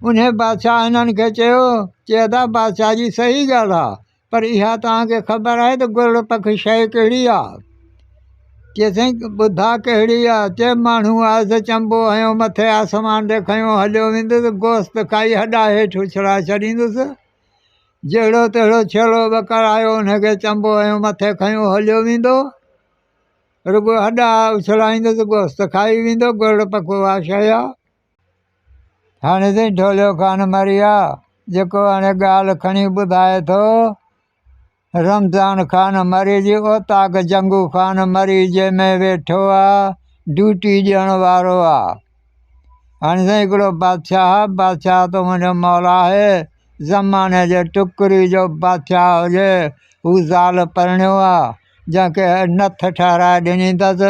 انهيء بادشاهه هنن کي چيو چي ادا بادشاهه جي صحيح ڳالهه آهي پر اها توهان کي خبر آهي ته گرڙ پکي شيء ڪهڙي آهي؟ چيس سائين ٻڌاء ڪهڙي آهي؟ چيس ماڻهو آهي سو چنبو هنيو مٿي آسمان ڏي کنيو هليو ويندس گوشت کائي هڏا هيٺ اڇلائي ڇڏيندس جهڙو تهڙو ڇيلو ٻڪر آيو انهيء کي چنبو هنيو مٿي کنيو هليو ويندو رڳو هڏا اڇلائيندس گوشت کائي ويندو گرڙ پکو اها شيء آهي هاڻي تائين ڍوليو خان مري آ جيڪو هاڻي ڳالهه کڻي ٻڌائي ٿو رمضان خان مري جي اوطاق جنگو خان مري جي ۾ ويٺو آ ڊيوٽي ڏيڻ وارو آ هاڻي تائين هڪڙو بادشاهه بادشاهه تو منهنجو مولا آهي زماني جي ٽڪري جو بادشاهه هجي هو زال پرڻيو آ جنهن کي نٿ ٺهرائي ڏنيتس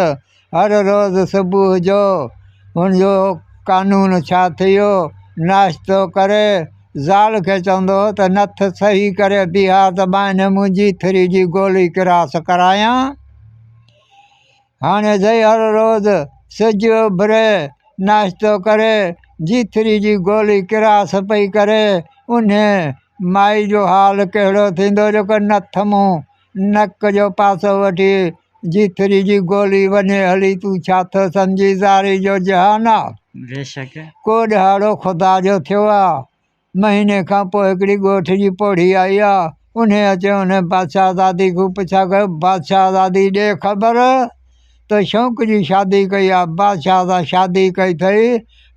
هر روز صبح جو هن جو قانون ڇا ٿيو ناشتو ڪري زال کي چوندو هو ته نٿ صحيح ڪري بيهار ته ٻانهن منهنجي ٿري جي گولي ڪراس ڪرايان هاڻي زئي هر روز سج اڀري ناشتو ڪري جي ٿري جي گولي ڪراس پئي ڪري انهي مائي جو حال ڪهڙو ٿيندو جيڪو نٿ مون نڪ جو پاسو وٺي، جيتري جي گولي وڃي هلي، تون ڇا ٿو سمجهين زاري جو جهان آ؟ بيشڪ! ڪو ڏهاڙو خدا جو ٿيو آ. مهيني کان پوء هڪڙي ڳوٺ جي پوڙهي آئي آ. انهيء اچي انهيء بادشاهزادي کان پڇا ڪيو، بادشاهزادي ڏي خبر تو شوق جي شادي ڪئي آ، بادشاهه سان شادي ڪئي ٿئي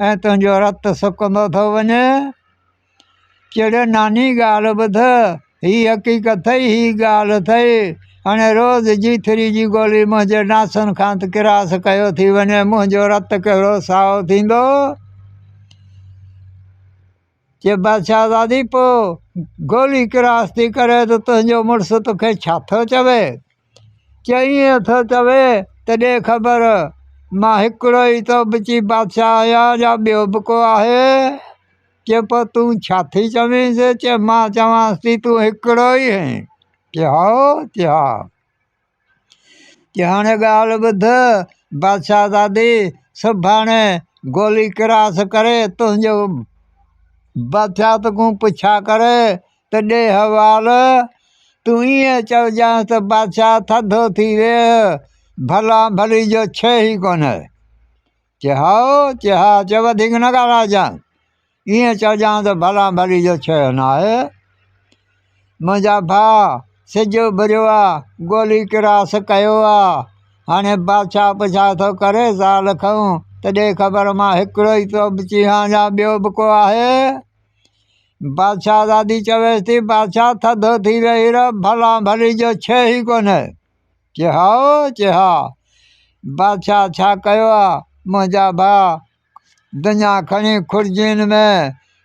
۽ تنهنجو رت سڪندو ٿو وڃي. چڙ ناني ڳالهه ٻڌ، هي حقيقت ٿئي، هي ڳالهه ٿئي. هاڻي روز جي ٿري جي گولي منهنجي ناسن کان ته ڪراس ڪيو ٿي وڃي، منهنجو رت ڪهڙو سائو ٿيندو؟ چي بادشاهزادي پوء گولي ڪراس ٿي ڪري ته تنهنجو مڙس توکي ڇا ٿو چوي؟ چي ائين ٿو چوي ته ڏي خبر، مان هڪڙو ئي ٿو بچي بادشاهه آهيان يا ٻيو به ڪو آهي؟ چيو پوء تون ڇا ٿي چوينس؟ چيو مان چوانس ٿي تون هڪڙو ئي آهين. چيو هائو؟ چيو ها. چيو هاڻي ڳالهه ٻڌ بادشاهزادي سڀاڻي گولي ڪراس ڪري تنهنجو بادشاهت کان پڇا ڪري ته ڏي حوال تون ائين چئجانس ته بادشاهه ٿڌو ٿي ويهه ڀلا ڀلي جو ڇي ئي ڪونه. چي هائو، چي ها، چي وڌيڪ نه ڳالهائجانء، ائين چئجانء ته ڀلان ڀلي جو ڇهيو ناهي. منهنجا ڀاء، سج اڀريو آ، گولي ڪراس ڪيو آ، هاڻي بادشاهه پڇا ٿو ڪري، زال کئون ته ڏي خبر مان هڪڙو ئي ٿو به چيهان يا ٻيو به ڪو آهي؟ بادشاهزادي چويس ٿي، بادشاهه ٿڌو ٿي ويهي رهه، ڀلان ڀلي جو ڇهي ئي ڪونه. چي ها او چي ها بادشاهه ڇا ڪيو آ منهنجا ڀاء دنيا کڻي خرجين ۾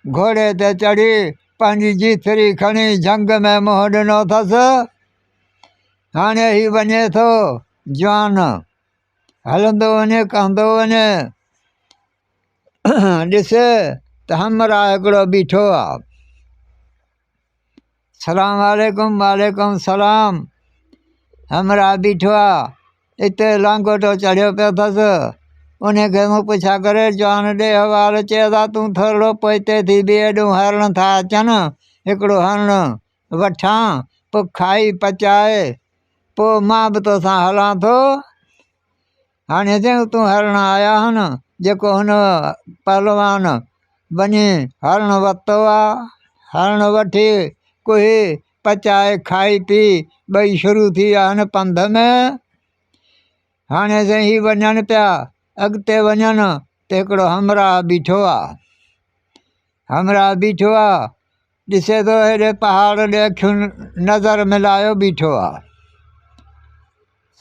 گهوڙي تي چڙهي پنهنجي جيتري کڻي جهنگ ۾ منهن ڏنو اٿس هاڻي هي وڃي ٿو جوان هلندو وڃي ڪهندو وڃي ڏسي ته همراهه هڪڙو بيٺو آ سلام عليڪم وعليڪم سلام همراهه بيٺو آهي اتي لانگوٽو چڙهيو پيو اٿس ان کي مون پڇا ڪري چوان ڏي حوال چئي ادا تون ٿورڙو پوئتي ٿي بيهه هيڏو هرڻ ٿا اچن هڪڙو هرڻ وٺان پوء کائي پچائي پوء مان به توسان هلان ٿو هاڻي هتي اتون هرڻ آيا آهن جيڪو هن پهلوان وڃي هرڻ ورتو آهي هرڻ وٺي ڪوهي پچائي کائي پي ٻئي شروع ٿي ويا آهن پنڌ ۾ هاڻي سائين هي وڃن پيا اڳتي وڃن ته هڪڙو همراهه بيٺو آهي همراهه بيٺو آهي ڏسي ٿو هيڏي پهاڙ ڏي اکيون نظر ملايو بيٺو آ.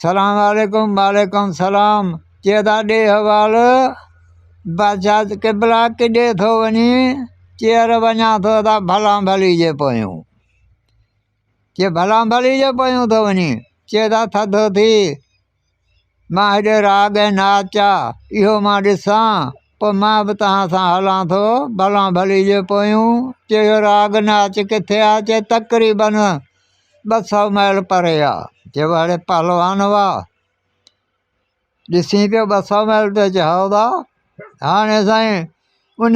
سلام عليڪم وعليڪم سلام چي ادا ڏي حوال بادشاهه قبلا ڪيڏي ٿو وڃي چيئر وڃان ٿو ادا ڀلان ڀلي جي پويون چي ڀلان ڀلي جي پويون ٿو وڃي چي ادا ٿڌو ٿي مان هيڏي راڳ ۽ ناچ چا اهو مان ڏسان پوء مان به توهان سان هلان ٿو ڀلان ڀلي جي پويون چيو اهو راڳ ناچ ڪٿي آ چي تقريبن ٻه سو ميل پري آ چيو هڙي پهلوان هئا ڏسين پيو ٻه سو ميل ته چيو هائو ڀا هاڻي سائين ان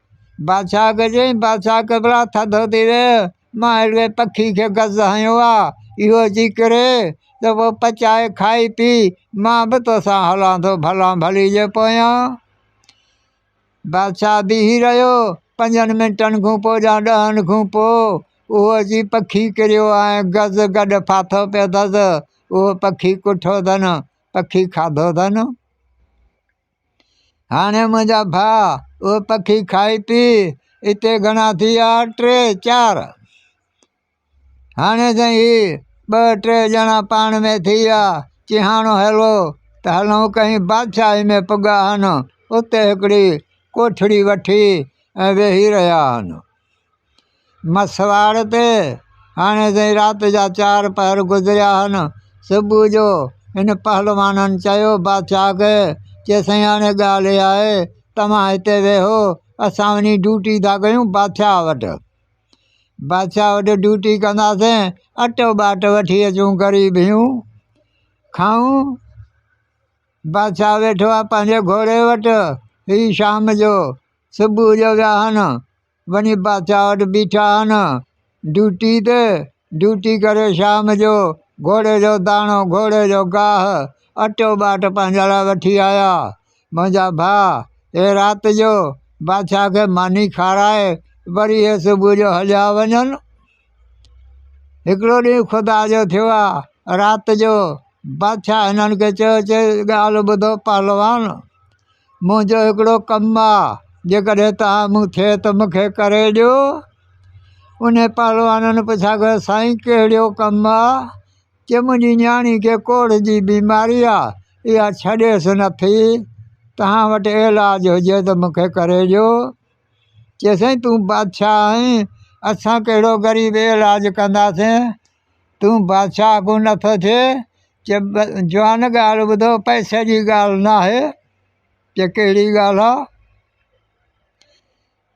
بادشاھ کي چيائين بادشاھ قبلا ٿڌو ٿي ويء مان اهڙي پکي کي گز هنيو آهي اهو اچي ڪري ته پوء پچائي کائي پي مان به توسان هلان ٿو ڀلا ڀلي جي پويان بادشاھ بيهي رهيو پنجن منٽن کان پوء يا ڏهن کان پوء اهو اچي پکي ڪريو آهي گز گڏ ڦاٿو پيو اٿس اهو پکي ڪٺو اٿن پکي کاڌو اٿن هاڻي منهنجا ڀاء اهو پکي کائي پي اتي گهڻا ٿي ويا ٽي چار هاڻي سائين هي ٻه ٽي ڄڻا پاڻ مين ٿي ويا چيهاڻو هلو ته هلون ڪئين بادشاهي مين پڳا آهن اتي هڪڙي ڪوٺڙي وٺي ۽ ويهي رهيا آهن مسواڙ تي هاڻي تائين رات جا چار پهر گذريا آهن صبح جو هن پهلوانن چيو بادشاهه کي چي سائين هاڻي ڳالهه اها آهي توهان هتي ويهو اسان وڃي ڊيوٽي ٿا ڪيون بادشاهه وٽ بادشاهه وٽ ڊيوٽي ڪنداسين اٽو ٻاٽ وٺي اچون غريب هيون کائون بادشاهه ويٺو آهي پنهنجي گهوڙي وٽ هي شام جو صبح جو ويا هن وڃي بادشاهه وٽ بيٺا هن ڊيوٽي تي ڊيوٽي ڪري شام جو گهوڙي جو داڻو گهوڙي جو گاهه اٽو ٻاٽ پنهنجي لاء وٺي آيا منهنجا ڀاء اهي رات جو بادشاهه کي ماني کارائي وري اهي صبح جو هليا وڃن هڪڙو ڏينهن خدا جو ٿيو آهي رات جو بادشاهه هنن کي چيو چي ڳالهه ٻڌو پهلوان منهنجو هڪڙو ڪم آ جيڪڏهن توهان مون ٿئي ته مون کي ڪري ڏيو انهي پهلوانن پڇا ڪيو سائين ڪهڙيو ڪم آ چي منهنجي نياڻي کي ڪوڙ جي بيماري آ اها ڇڏيس نه ٿي توهان وٽ علاج هجي ته مون کي ڪري ڏيو چي سائين تون بادشاهه آهين اسان ڪهڙو غريب علاج ڪنداسين تون بادشاهه ڪو نه ٿو ٿئين؟ چي جوان ڳالهه ٻڌو پئسي جي ڳالهه ناهي چي ڪهڙي ڳالهه آ؟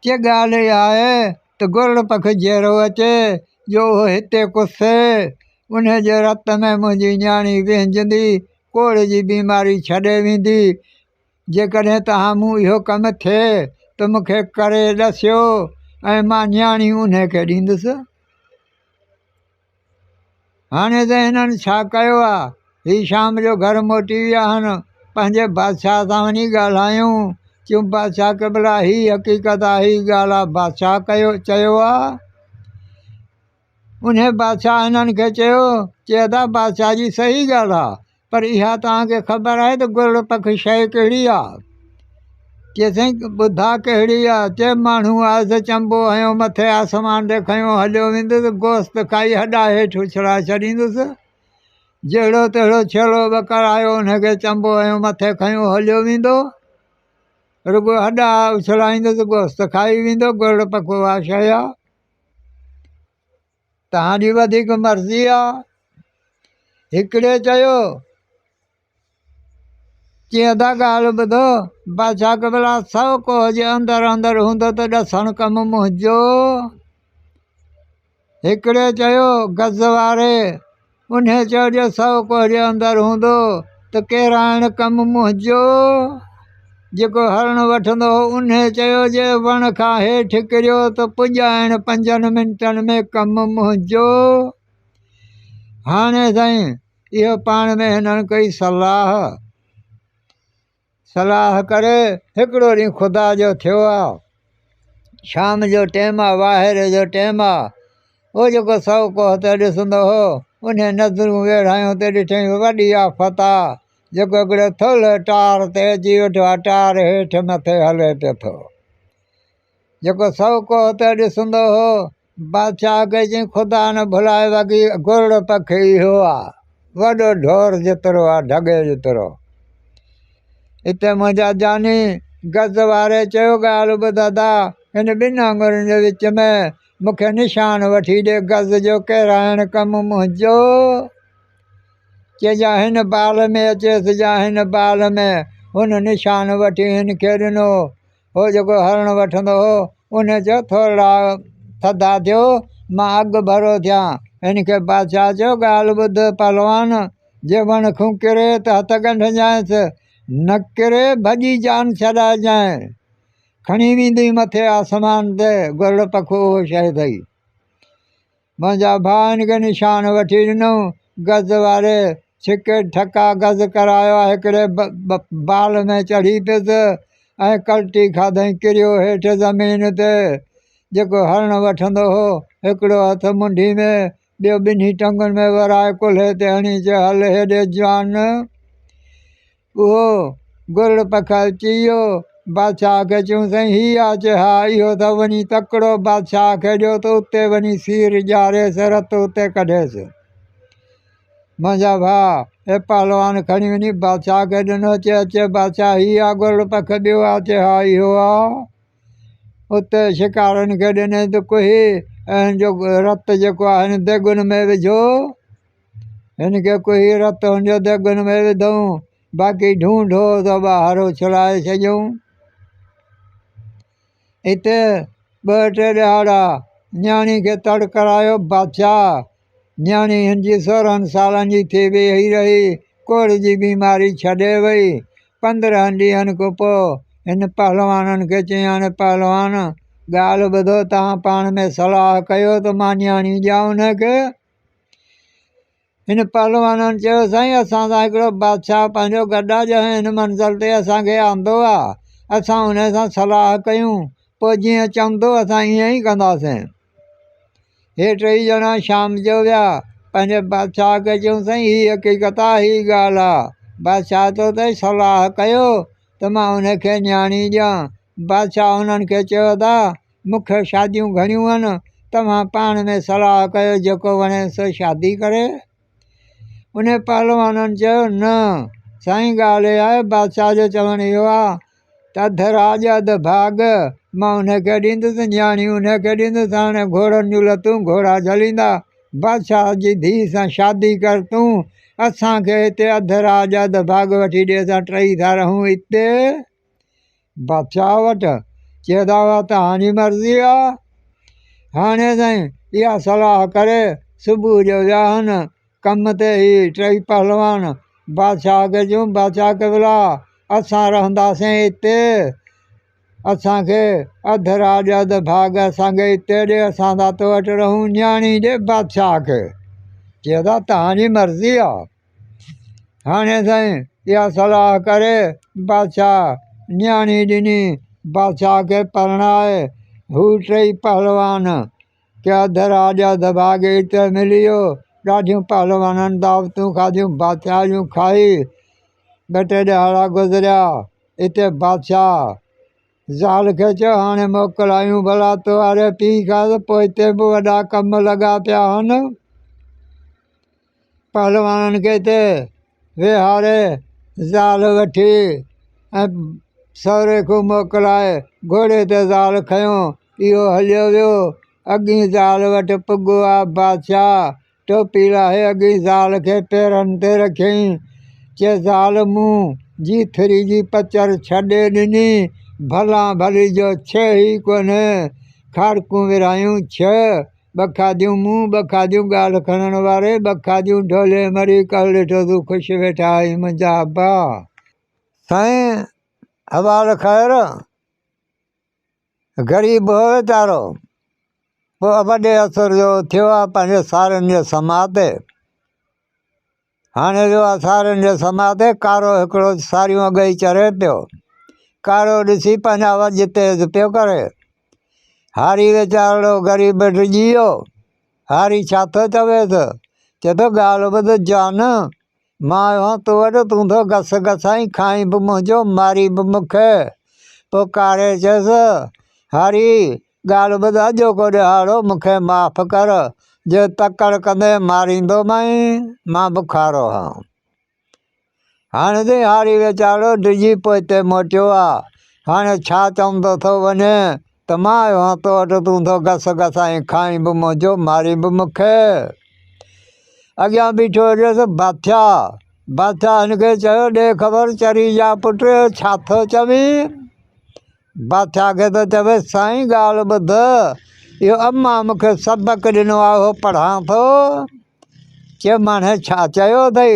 چي ڳالهه اها آهي ته گرڙ پک جيئرو اچي جو اهو هتي ڪسي انهي جي رت ۾ منهنجي نياڻي وهنجندي ڪوڙهه جي بيماري ڇڏي ويندي جيڪڏهن توهان مون اهو ڪم ٿئي ته مون کي ڪري ڏسيو ۽ مان نياڻي انهيء کي ڏيندس. هاڻي ته هنن ڇا ڪيو آ؟ هي شام جو گهر موٽي ويا هن، پنهنجي بادشاهه سان وڃي ڳالهايون. چيم، بادشاهه قبلا! هي حقيقت آ، هي ڳالهه آ، بادشاهه ڪيو چيو آ. انهيء بادشاهه هنن کي چيو چي ادا بادشاهه جي صحيح ڳالهه آ پر اها توهان کي خبر آهي ته گرڙ پک شيء ڪهڙي آ؟ چيس سائين ٻڌاء ڪهڙي آ؟ چي ماڻهو آهي سو چنبو هنيو مٿي آسمان ڏي کنيو هليو ويندس گوست کائي هڏا هيٺ اڇلائي ڇڏيندس جهڙو تهڙو ڇيلو ٻڪر آيو انهي کي چنبو هنيو مٿي کنيو هليو ويندو رڳو هڏا اڇلائيندس گوست کائي ويندو گرڙ پک اها شيء آ. توهان جي وڌيڪ مرضي آ. هڪڙي چيو، چيئن ٿا ڳالهه ٻڌو، بادشاهه قبلا سو ڪوهه جي اندر اندر هوندو ته ڏسڻ ڪم منهنجو. هڪڙي چيو، گز واري! انهيء چيو جو سو ڪوهجي اندر هوندو ته ڪيرائڻ ڪم منهنجو. جيڪو هرڻ وٺندو هو، انهيء چيو جي وڻ کان هيٺ ڪريو ته پڄائڻ پنجن منٽن ۾ ڪم منهنجو. هاڻي سائين اهو پاڻ ۾ هنن ڪئي صلاح. صلاح ڪري هڪڙو ڏينهن خدا جو ٿيو آ شام جو ٽيم آ واهيري جو ٽيم آ هو جيڪو سو ڪوهه تي ڏسندو هو انهي نظرون ويڙهايون ته ڏٺائين وڏي آفت آ جيڪو هڪڙو ٿولهي ٽار تي اچي ويٺو آ ٽار هيٺ مٿي هلي پيو ٿو جيڪو سئو ڪوهه ته ڏسندو هو. بادشاهه کي چيائين، خدا نه ڀلائي وڳي گرڙ پکي اهو آ، وڏو ڍور جيترو آ، ڍڳي جيترو. اتي منهنجا جاني گز واري چيو، ڳالهه ٻڌ ادا، هن ٻن آڱرين جي وچ ۾ مون کي نشان وٺي ڏي، گز جو ڪيرائڻ ڪم منهنجو. چي جا هن بال ۾ اچيس، جا هن بال ۾، هن نشان وٺي هن کي ڏنو. هو جيڪو هرڻ وٺندو هو، انهيء چيو، ٿورڙا ٿڌا ٿيو، مان اڳ ڀرو ٿيان. هن کي بادشاهه چيو، ڳالهه ٻڌ پهلوان! جي وڻ کون ڪري ته هٿ ڳنڍجانئس، نه ڪري ڀڄي جان ڇڏائجانء. کڻي ويندينء مٿي آسمان تي گرڙ پکو اهو شيء اٿئي. منهنجا ڀاء هن کي نشان وٺي ڏنو. گز واري ڇڪي ٺڪا گز ڪرايو ۽ هڪڙي بال ۾ چڙهي پيس ۽ ڪلٽي کاڌئين. ڪريو هيٺ زمين تي. جيڪو هرڻ وٺندو هو، هڪڙو هٿ منڍي ۾ ٻيو ٻنهي ٽنگن ۾ ورائي ڪلهي تي هڻي چيو، هل هيڏي جوان! اهو گرڙ پکائي چيو، بادشاهه کي چيون سائين هي آچ ها اهو ته وڃي تڪڙو بادشاهه کي ڏيو ته اتي وڃي سير ڄاريس رت اتي ڪڍيس. منهنجا ڀاء هي پهلوان کڻي وڃي بادشاهه کي ڏنو چي اچي بادشاهه هي آ گرڙ پک ٻيو آچ ها اهو آ اتي شڪارين کي ڏني ته ڪهي ۽ هن جو رت جيڪو آهي ديڳن ۾ وجهو هن کي ڪوهي رت هنجو دڳن ۾ وڌئون، باقي ڍونڍو ته ٻاهر اڇلائي ڇڏيون. اتي ٻه ٽي ڏهاڙا نياڻي کي تڙ ڪرايو بادشاهه. نياڻي هن جي سورهن سالن جي ٿي ويهي رهي، ڪوڙهه جي بيماري ڇڏي وئي. پندرهن ڏينهن کان پوء هن پهلوانن کي چيائين، پهلوان! ڳالهه ٻڌو، توهان پاڻ ۾ صلاح ڪيو ته مان نياڻي ڏيان ان کي. هن پهلوانن چيو، سائين اسان سان هڪڙو بادشاهه پنهنجو گڏ آ جنهن هن منزل تي اسان کي آندو آ، اسان ان سان صلاح ڪيون پوء جيئن چوندو اسان ايئن ئي ڪنداسين. هي ٽيئي ڄڻا شام جو ويا پنهنجي بادشاهه کي چيون سائين هي حقيقت آ هي ڳالهه آ بادشاهه تو تي صلاح ڪيو ته مان ان کي نياڻي ڏيان بادشاهه هنن کي چيو ته مون کي شاديون گهڻيون آهن توهان پاڻ ۾ صلاح ڪيو جيڪو وڻي سو شادي ڪري ان پهلوانن چيو نه سائين ڳالهه اها آهي بادشاهه جو چوڻ اهو آهي ته اڌ راڄ اڌ ڀاڳ مان ان کي ڏيندس نياڻي ان کي ڏيندس هاڻي گهوڙن جون لتون گهوڙا جهليندا بادشاهه جي ڌيء سان شادي ڪر تون اسانکي هتي اڌ راڄ اڌ ڀاڳ وٺي ڏي اسان ٽئي ٿا رهون هتي بادشاهه وٽ چيندا هئا ته هاڻي مرضي آ هاڻي سائين اها صلاح ڪري صبح جو وياهن ڪم تي هي ٽئي پهلوان بادشاهه کي چيون بادشاهه قبلا اسان رهنداسين هتي اسانکي اڌ راڄ اڌ ڀاڳ اسانکي هتي ڏي اسان ٿا تو وٽ رهون نياڻي ڏي بادشاهه کي چيندا تهانجي مرضي آ هاڻي سائين اها صلاح ڪري بادشاهه نياڻي ڏني بادشاهه کي پرڻائي هو ٽئي پهلوان ڪيا دراجا دڀاڳي ته ملي ويو ڏاڍيون پهلوانن دعوتون کاڌيون بادشاهه جون کائي ٻ ٽي ڏهاڙا گذريا اتي بادشاهه ذال کي چيو هاڻي موڪل آيون بلا تو واري پيء کان ته پوء هتي به وڏا ڪم لڳا پيا آهن پهلوانن کي ته ويهاري زال وٺي ۽ سهري کي موڪلائي گهوڙي تي زال کنيو اهو هليو ويو اڳئي زال وٽ پڳو آ بادشاهه ٽوپي لاهي اڳئي زال کي پيرن تي رکيائين چي زال مون جيٿري جي پچر ڇڏي ڏني ڀلان ڀلي جو ڇهه ئي ڪونهي کاڙڪون ورهايون ڇهه ٻه کاڌيون مون، ٻه کاڌيون ڳاڙهه کڻڻ واري، ٻه کاڌيون ڍولي مري، ڪل ڏٺو تون خوش ويٺا آهين منهنجا ابا. سائين حوال خير، غريب هو ويچارو، پوء وڏي عصر جو ٿيو آهي پنهنجي سارنگيء سماء تي. هاڻي جو اسارين جي سماء تي ڪارو هڪڙو ساريون اڳئي چري پيو. ڪارو ڏسي پنهنجا وجهه تيز پيو ڪري. هاري ويچارڙو غريب ڊڄي ويو. هاري ڇا ٿو چويس؟ چي ٿو ڳالهه ٻڌ جان، مان آيو هان تو وٽ، تون ٿو گس گسائين، کائين به منهنجو، مارين به مون کي. پوء ڪاري چيس، هاري! ڳالهه ٻڌ اڄوڪو ڏهاڙو مون کي معاف ڪر جي تڪڙ ڪندي ماريندومانء مان بکارو هان هاڻي تي هاري ويچارو ڊڄي پوئتي موٽيو آ هاڻي ڇا چئون تو ٿو وڃين ته مان آيو هان تو وٽ تون ٿو گس گس ۽ کائين به منهنجو مارين به مون کي اڳيان بيٺو هجس باٿيا باٿيا هن کي چيو ڏي خبر چري جا پٽ ڇا ٿو چوين بادشاهه کي ٿو چوي سائين ڳالهه ٻڌ اهو اما مون کي سبق ڏنو آهي اهو پڙهان ٿو چي ماڻهي ڇا چيو اٿئي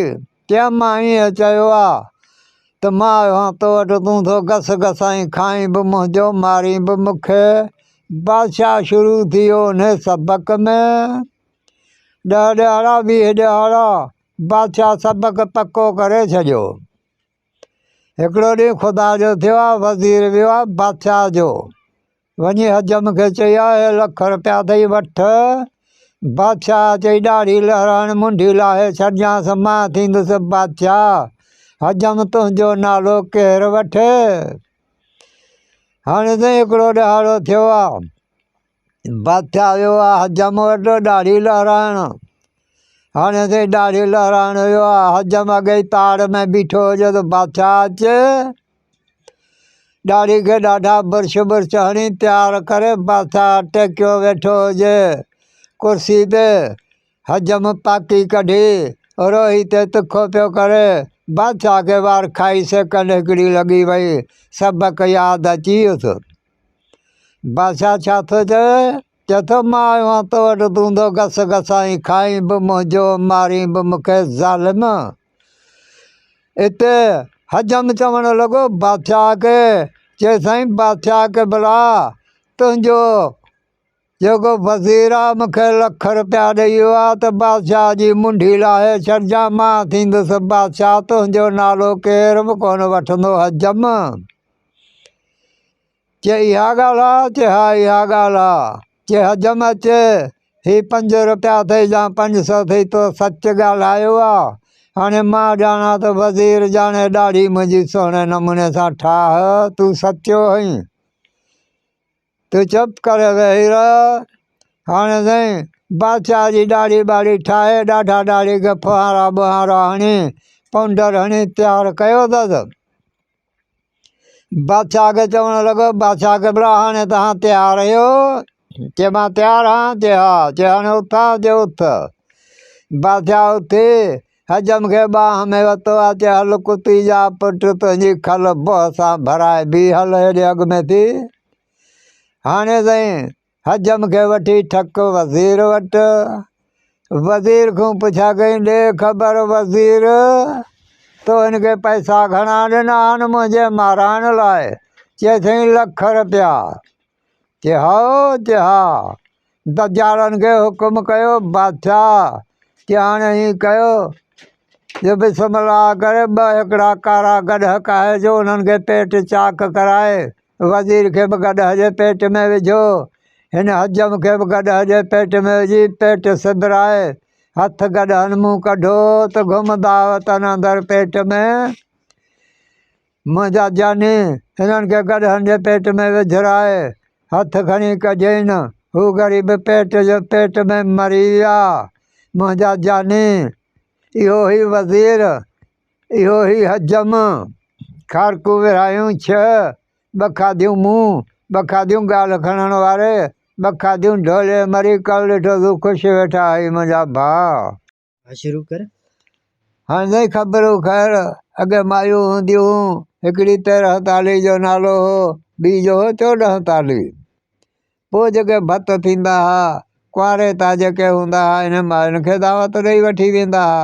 چي اما ائين چيو آهي ته مان آيو آهيان تو وٽ تون ٿو گس گسائين کائين به منهنجو مارين به مون کي بادشاهه شروع ٿي ويو ان سبق ۾ ڏهه ڏهاڙا ويهه ڏهاڙا بادشاهه سبق پڪو ڪري ڇڏيو هڪڙو ڏينهن خدا جو ٿيو آ، وزير ويو آ بادشاهه جو، وڃي حجم کي چئي آيو هي لک رپيا اٿئي وٺ. بادشاهه چئي ڏاڙهي لهرائڻ منڍي لاهي ڇڏجانس مان ٿيندس بادشاهه، حجم تنهنجو نالو ڪير وٺي. هاڻي سائين هڪڙو ڏهاڙو ٿيو آ، بت آيو آ حجم وٽ ڏاڙهي لهرائڻ هاڻي اٿي ڏاڙهي لهرائڻ ويو آ حجم اڳي ئي پاڙ ۾ بيٺو هجي ته بادشاهه اچي ڏاڙهي کي ڏاڍا برش برش هڻي پيار ڪري بادشاهه ٽيڪيو ويٺو هجي ڪرسي تي حجم پاڪي ڪڍي روهي تي تکو پيو ڪري بادشاهه کي وار کائي سيڪنڊ هڪڙي لڳي وئي سبق ياد اچي ويس بادشاهه ڇا ٿو چوي؟ چوي ٿو مان آيو آهيان تو وٽ تون ٿو گس گسائين کائين به منهنجو مارين به مون کي ظالم اتي حجم چوڻ لڳو بادشاهه کي چي سائين بادشاهه کي بلا تنهنجو جيڪو وزير آ مون کي لک روپيا ڏئي ويو آ ته بادشاهه جي منڍي لاهي ڇڏجان مان ٿيندس بادشاهه تنهنجو نالو ڪير به ڪونه وٺندو حجم چي اها ڳالهه آ چي ها اها ڳالهه آ چي حجم اچي هي پنج روپيا اٿئي جا پنج سو اٿئي تو سچ ڳالهايو آ هاڻي مان ڄاڻان ته وزير ڄاڻي ڏاڙهي منهنجي سهڻي نموني سان ٺاهه تون سچو هئين تون چپ ڪر ويهي رهه. هاڻي سائين بادشاهه جي ڏاڙهي ٻاڙهي ٺاهي، ڏاڍا ڏاڙهي کي ڦوهارا ٻوهارا هڻي، پونڊر هڻي تيار ڪيو اٿس. بادشاهه کي چوڻ لڳو، بادشاهه قبلا هاڻي توهان تيار آهيو؟ چي مان تيار آهيان. چي ها. چي هاڻي اٿ ها. چي اٿ. بادشاهه اٿي حجم کي ٻانهن ۾ ورتو اچي هل ڪتي جا پٽ تنهنجي کل بوهه سان ڀرائي بيهي هل هيڏي اڳ ۾ ٿي هاڻي سائين حجم کي وٺي ٺڪ وزير وٽ وزير کان پڇا ڪئي ڏي خبر وزير تو هن کي پئسا گهڻا ڏنا آهن منهنجي مارائڻ لاء چي سائين لک رپيا تي هائو تي ها دجالن کي حڪم ڪيو بادشاهه تي هاڻي هي ڪيو جو بسم الله ڪري ٻه هڪڙا ڪارا گڏهه ڪاهي جو انهن کي پيٽ چاڪ ڪرائي وزير کي به گڏهه جي پيٽ ۾ وجهو هن حجم کي به گڏهه جي پيٽ ۾ وجهي پيٽ سبرائي هٿ گڏهن مون ڪڍو ته گهمندا وطن اندر پيٽ ۾ منهنجا جاني! هنن کي گڏهن جي پيٽ ۾ وجهرائي هٿ کڻي ڪجين، هو غريب پيٽ جي پيٽ ۾ مري ويا. منهنجا جاني! اهو هي وزير، اهو هي حجم، کارڪون ورهايون ڇهه، ٻه کاڌيون مون، ٻه کاڌيون ڳالهه کڻڻ واري، ٻه کاڌيون ڍولي مري ڪل ڏٺو زو خوش ويٺا هئي منهنجا ڀاء. ها شروع ڪر. هان سائين خبر هو خير اڳي مايون هونديون هون هڪڙي تيرهن تالي جو نالو هو ٻي جو هو چوڏهن تالي پوء جيڪي ڀت ٿيندا ها ڪنواري تان جيڪي هوندا ها انهن ماين کي دعوت ڏئي وٺي ويندا ها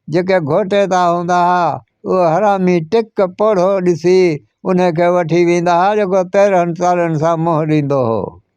جيڪي گهوٽي تان هوندا ها اهو حرامي ٽڪ پوڙهو ڏسي انهي کي وٺي ويندا ها جيڪو تيرهن تالين سان منهن ڏيندو هو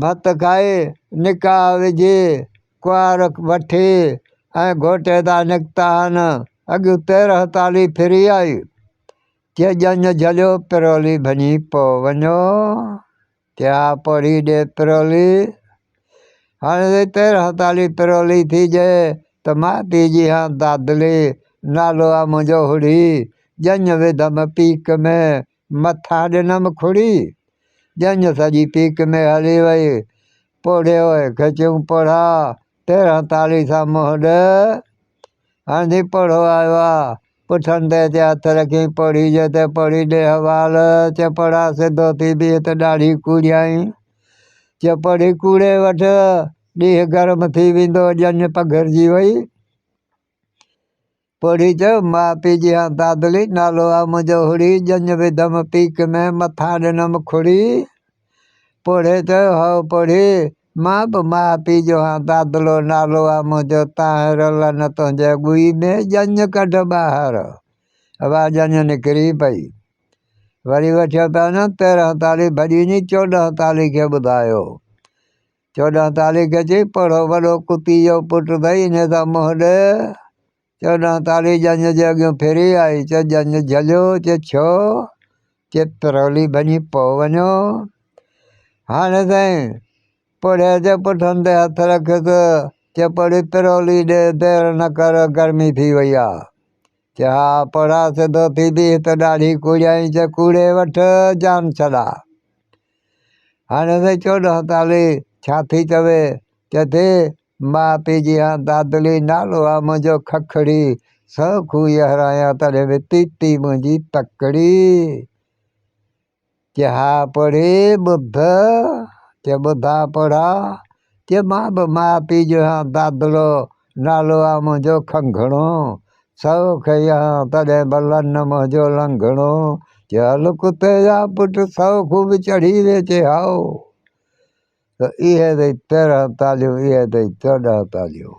ڀت کائي، نڪاح وجهي، ڪنوار وٺي ۽ گهوٽ هتان نڪتا هن. اڳيون تيرهن تالي ڦري آئي، چي ڄڃ جهليو پرولي ڀڃي پئو وڃو، چي ها پورهي ڏي پرولي. هاڻي سائين تيرهن تالي پرولي ٿي ڄي ته مان ٿي جي هان دادلي، نالو آ منهنجو هڙهي، ڄڃ وڌم پيڪ ۾، مٿا ڏنم کڙي، ڄڃ سڄي پيڪ ۾ هلي وئي. پوڙهي اوء کي چيون پوڙها، تيرهن تالي سان منهن ڏي. هنڌين پوڙهو آيو آ. پٺن تي اچي هٿ رکيائين پوڙهي جي تي، پوڙهي ڏي حوال. چي پوڙها سڌو ٿي بيهه ته ڏاڙهي ڪوڙيائين. چي پوڙهي ڪوڙي وٺ، ڏينهن گرم ٿي ويندو. ڄڃ پگهرجي وئي. پوڙهي جو ماء پي جيان دادلي نالو آ منهنجو هڙي ڄڃ وڌم پيڪ ۾ مٿان ڏنم کڙي پوڙهي جو هئو پوڙهي مان به ماء پي جو هان دادلو نالو آ منهنجو تانهين رلن تنهنجي ڳوئي ۾ ڄڃ ڪڍ ٻاهر اها ڄڃ نڪري پئي وري وٺيو تانن تيرهن تالي ڀڄي ني چوڏهن تالي کي ٻڌايو. چوڏهن تالي گجي پڙهو وڏو ڪتي جو پٽ ڀئي انهيء سان منهن ڏي چوڏهن تالي ڄڃ جي اڳيون ڦري آئي چي ڄڃ جهليو چي ڇو چي پرولي ڀڃي پئو وڃو هاڻي سائين پڙهي چي پٺن تي هٿ رکيس چي پڙهي پرولي ڏي دير نه ڪر گرمي ٿي وئي آ. چا پڙا سڌو ٿي بيهه ته ڏاڙهي ڪوڙيائين چا ڪوڙي وٺ جان ڇڏا هاڻي سائين چوڏهن تالي ڇا ٿي چوي چئي ٿي ماء پيء جي هان دادلي نالو آ منهنجو ککڙي سو کوهي هرايان تڏهن به تيتي منهنجي تڪڙي. چيها پڙهي ٻڌ، چي ٻڌا پڙها، چي مان به ماء پيء جو آهيان دادڙو، نالو آهي منهنجو کنگهڻو، سئو کئي آهيان تڏهن به لن منهنجو لنگهڻو، چي هل ڪتي جا پٽ سئو کون به چڙهي وي چي هائو. اهي اٿئي تيرهن تاليون، اهي اٿئي چوڏهن تاليون.